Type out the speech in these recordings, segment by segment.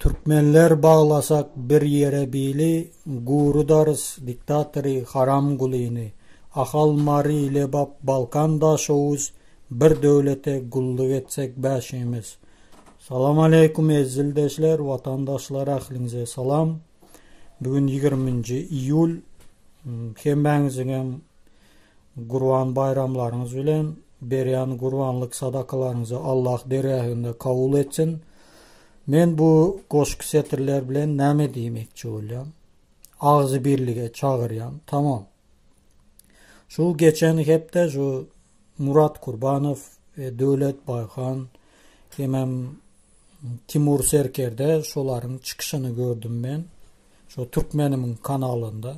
Türkmenler baglasak bir ýere bili gurudarys diktatory haram gulyny Ahal Mary Lebap Balkan Daşoguz bir döwlete gulluk etsek bäşimiz. Salam aleýkum eziz ildeşler watandaşlar ähliňize salam. Bugün ýigirminji iýul hemmäňiziňem Gurban baýramlaryňyz bilen! Berýän gurbanlyk sadakalaryňyzy Allah dergähinde kabul etsin! Men bu goşgy setirler bilen näme diýmekçi bolýan? Agzy birlige çagyrýan, tamam! Şu geçen hepde şu Murat Kurbanow, e, Döwlet Baýhan hemem Timur Serkerde şolaryň çykyşyny gördüm men, şu Türkmenimiň kanalynda.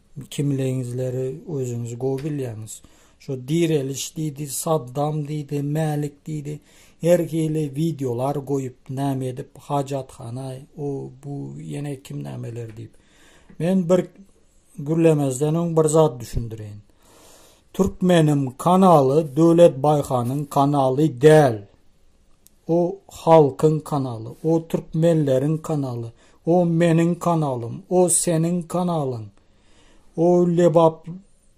Kimligiňizleri özüňiz gowy bilýäňiz. Şu direliş diýdi, Saddam diýdi, Mälik diýdi. Her hili wideolar goýup, näme edip, hajathana, o, bu, ýene kim nämeler diýip. Men bir gürlemezden öň bir zat düşündireýin. Türkmenim kanaly Döwlet Baýhanyň kanaly däl. O halkyň kanaly, o türkmenleriň kanaly, o meniň kanalym, o seniň kanalyň. O Lebap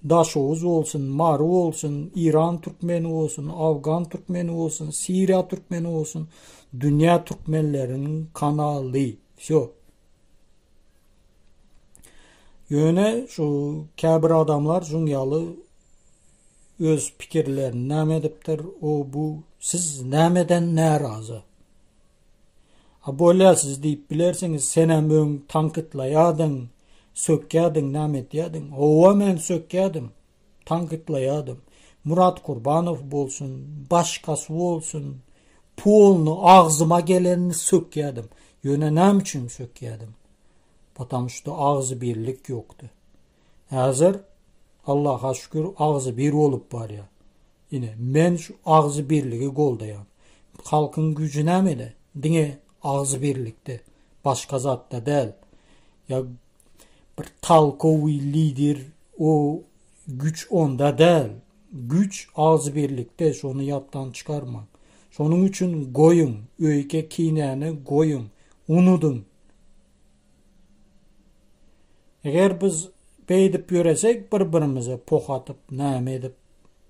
Daşoguz bolsun, Mary bolsun, Iran türkmeni bolsun, Afgan türkmeni bolsun, Siriýa türkmeni bolsun, dünýä türkmenleriniň kanaly. Wsýo. Ýöne şu käbir adamlar şuň ýaly öz pikirlerini näme edipdir, o bu siz nämeden närazy? A bolýar siz diýip bilersiňiz, sen hem öň tankytlaýardyň, sökýärdiň, näme etýärdiň? Howa men sökýärdim. tankytlaýadym. Murat Kurbanow bolsun, başgasy bolsun, polny agzyma gelenini sökýädim. Ýöne näme üçin sökýädim? Potam şuda agzybirlik ýokdy. Häzir Allaha şükür agzybir bolup barýar. Ine, men şu agzybirligi goldaýan. Halkyň güýji nämede? Diňe agzybirlikde, başga zatda däl. Ýa bir talkowy lider o güç onda däl. Güç az birlikde şonu yapdan çykarma. Şonun üçin goyun, öyke kinäni goyun, unudun. Eger biz beydip yöresek bir birimize poh atıp, name edip,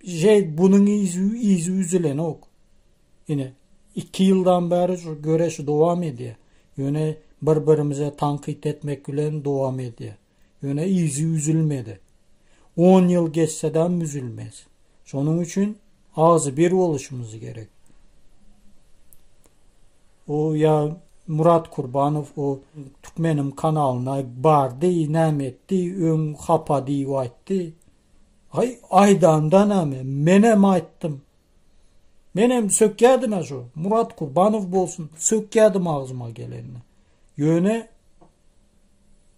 şey bunun izi, izi üzülen ok. Ine, iki ýyldan bäri şu göreş dowam edýär. Ýöne bir-birimize tankyt etmek bilen dowam edýär. Ýöne yzy üzülmedi. On ýyl geçsedem üzülmez. Şonuň üçin agzybir boluşymyz gerek. O ýa Murat Kurbanow o Türkmenim kanalyna bardy, näme etdi, öň hapa diýip aýtdy. Aý, aýdanda näme, menem aýtdym. Menem sökýädin-ä şu Murat Kurbanow bolsun, sökýädim agzyma gelenini. Ýöne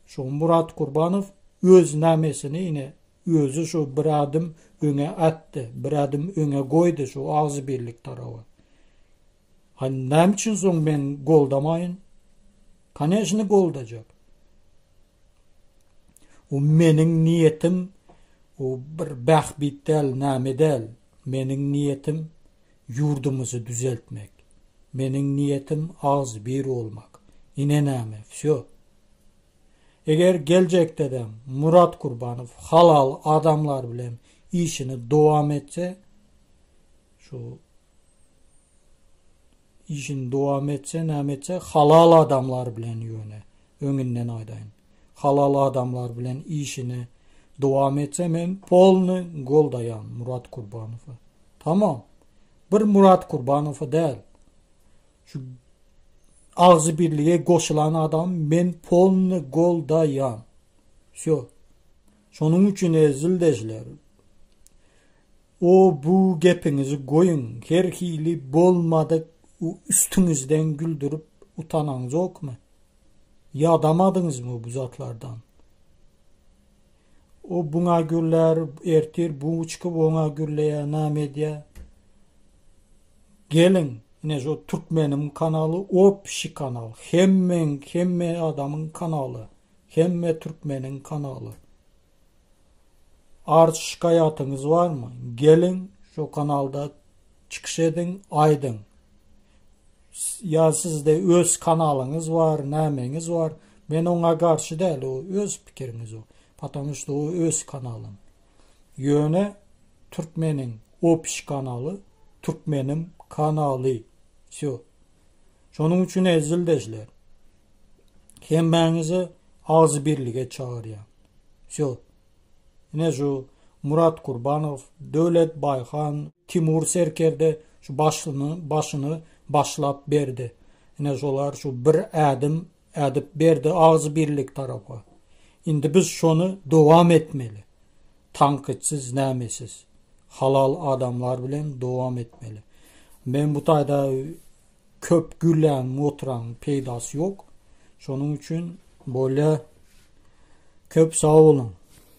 şu Murat Kurbanow öz namesini ine özi şu bir adym öňe atdy, bir adym öňe goýdy şu agzybirlik taraba. Ha näme üçin soň men goldamaýyn? Koneşni goldajak. O meniň niýetim o bir bähbit däl, näme däl. Meniň niýetim ýurdumyzy düzeltmek. Meniň niýetim agzybir bolmak. Ine näme, wsýo. Eger geljekde-de Murat Kurbanow halal adamlar bilen işini dowam etse, şu Işini dowam etse näme etse halal adamlar bilen ýöne öňünden aýdaýyn. Halal adamlar bilen işini dowam etse men polny goldaýan Murat Kurbanowy. Tamam. Bir Murat Kurbanowy däl. Şu agzy birlige goşulan adam men polny goldaýan. Şo. Şonuň üçin ezildeşler. O bu gepiňizi goýuň her hili bolmadyk üstüňizden güldürip utanaňzokmy? Ýadamadyňyzmy bu zatlardan? O buňa gürlär, ertir bu çykyp oňa gürleýär, näme edýär? Geliň, ine şu türkmeniň kanaly opşi kanal, hemmeň hemme adamyň kanaly, hemme türkmeniň kanaly. Arz şikaýatyňyz barmy? Geliň şu kanalda çykyş ediň, aýdyň. Ýa sizde öz kanalyňyz bar, nämeňiz bar? Men oňa garşy däl, o öz pikiriňiz o. Patamu şu o öz kanalyň. Ýöne türkmeniň opş kanaly, türkmenim kanaly. Şu. Şonuň üçin ezildeşler, hemmäňizi agzybirlige çagyrýan. Şo. Ine şu Murat Kurbanow, Döwlet Baýhan, Timur Serkerde şu başyny başyny başlap berdi. Ine şolar şu bir ädim Ädip berdi agzybirlik tarapa. Indi biz şony dowam etmeli. Tankytsyz nämesiz. Halal adamlar bilen dowam etmeli. Men bu taýda köp gürlän oturan peýdasy ýok. Şonuň üçin bolýa köp sag boluň.